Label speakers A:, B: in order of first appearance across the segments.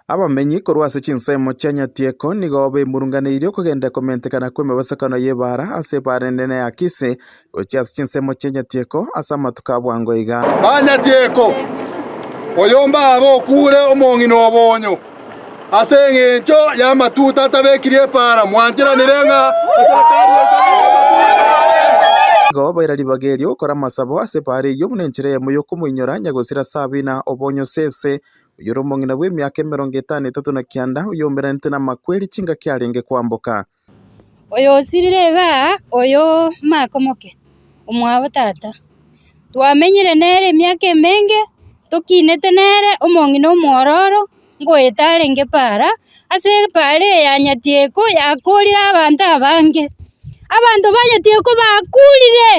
A: Abamenyi korwa ase chinsemo chia Nyatieko nigo bemurunganeirie okogenda komentekana kw'emebasakano y'ebaara ase ebaara enene ya Kisi, gochia ase chinsemo chia Nyatieko ase amatuko a bwango iga. Aa Nyatieko,
B: oyomba abe okuure omong'ina obonyo, ase engencho y'amatuta atabekirie epaara mwancheranire ng'a
A: Igo baira ribaga erio gokora amasabo ase ebaara eyio buna enchera yamo y'okomoinyora Nyagosira Sabina obonyo sese, oyore omong'ina bw'emiaka emerongo etano etato na kianda, oyoumberanete namakweri chingaki arenge kwamboka.
C: Oyosirire iga oyo omake omoke, omwabo tata. Twamenyire nere emiaka emenge, tokinete nere omong'ina omwororo, ngoeta arenge para, ase epaara eye ya nyatieko yakorire abanto abange. Abanto ba nyatieko bakurire,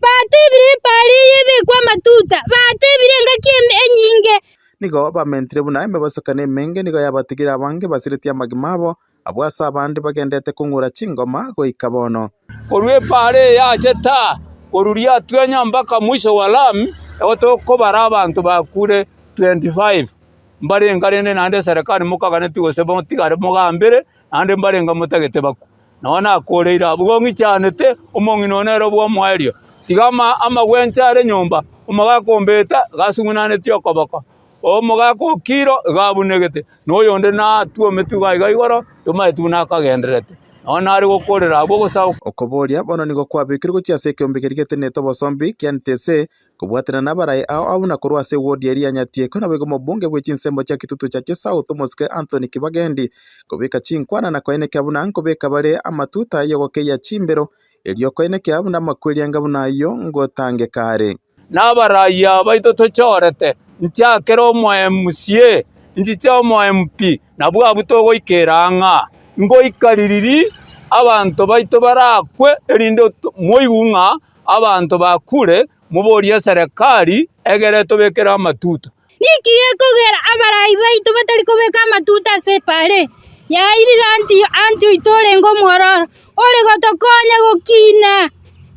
C: batebire epaara eye ebekwe amatuta, batebire engaki eme enyinge. Nigo bamentire
A: buna emeboso kane emenge, nigo yabatigire abange basiretie amagima abo, abwo ase abande bagendete kong'ura chingoma goika bono. Korwa epaara
D: eye ache taa koruria atwenya mpaka mwisho wa lami, igo tokobara abanto bakure 25 mbarenge rende naende eserekari mokaganeti gose motigare mogambere naende mbarenge motagete bakwe. Nao nakoreire abwo ng'ichanete, omong'ina one nere bw'omoerio. Tiga amagwencha are nyomba, omogaka ombete iga asung'unaneti okoboko, omogaka o kiro iga abunegete, na oyonde natwometu iga iga igoro, tomaeti buna akagendererete. Nao nare gokorera abwo, ogosagoka. Okoboria, Bono nigo
A: kwabekirwe gochia ase ekeombe keria geteneete obosombi, kianete ase Kobwatanera nabaraai ao abwo na korwa ase ewodi eria ya Nyatiekwe naboigo mobunge bwe chinsemo chia Kitutu cha Chesouth omosike Anthony Kibagendi kobeka chinkwana na koenekea buna nkobeka bare amatuta y'ogokeyia chimbero erio okoenekea buna amakweri anga buna ayio ngotangeka are. Nabaraai aba
D: baito tochorete nchiakera omo MCA nchiche omo MP nabwo abwo togoikera ng'a ngoika ririri abanto baito barakwe erinde moigwe ng'a Abanto bakure, moborie eserekari egere etobekere amatuta. Ninki gekogera
C: abarai baito batari kobeka amatuta ase epaare ya Airiranti anchoito orenge omwororo, ore gotokonya gokina?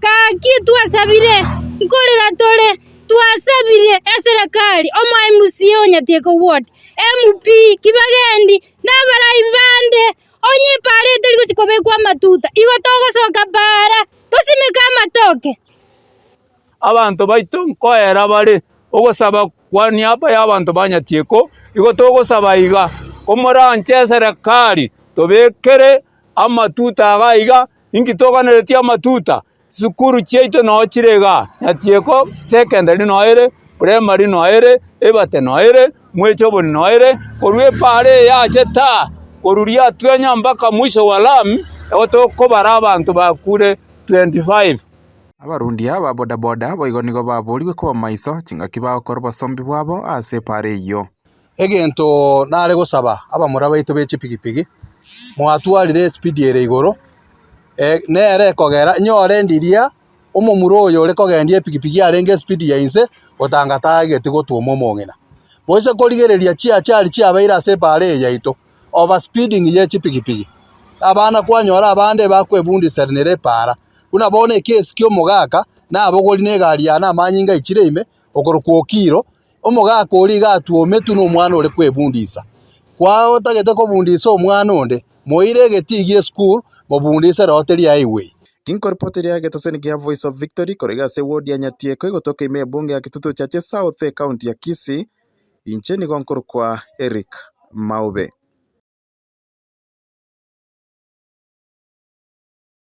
C: Gaki twasabire, nkorera tore, twasabire eserekari, omoMCA o Nyatiekobwote, MP, Kibagendi, na abarai bande Onye epaara eye tori gochia kobekwa amatuta, igo togosoka paara, tosimeke amatoke.
D: Abanto baito nkoera bare ogosaba kwa niaba y'abanto ba Nyatieko, igo togosaba iga, komoranche eserekari tobekere amatuta iga iga, inki toganeretie amatuta? Chisukuru chiaito noo chire igaa, Nyatieko secondary noo ere, primary noo ere, Ebate noo ere, Mwechobori noo ere, korwa epaara eye aache taa, korwa riatwenya mbaka mwiso wa lami, nigo tokobara abanto bakure 25. Abarundi
A: aba bodaboda boigo nigo baboorigwe koba maiso chingaki bagokora obosombi bwabo ase epaara eyio. Egento
B: nare gosaba abamura baito be chipigipigi, mwatwarire espeed ere igoro, nere ekogera nyore ndiria omomura oyo ore kogendia epigipigi arenge espeed ya inse otanga tagete gotwoma omong'ina. Gose korigereria chiachari chiabeire ase ebare eye yaito, over speeding ye chipigipigi. Abana kwanyora abande bakwebundiserenire ebara, buna bono ekesi kia omogaka nabogori na egari yane amanyinga aichire ime, okorokwa okiro. Omogaka oria iga atwometwe nomwana ore kwebundisa. Kwao otagete kobundisa omwana onde, moire egetii gie school mobundise roho teri highway. Inko ripoti ria
A: egeteseni gia Voice of Victory korege ase ewodi ya Nyatiekwa igotoka ime ebunge ya Kitutu Church South ekaunti ya Kisii, inche nigo nkorokwa Eric Maube.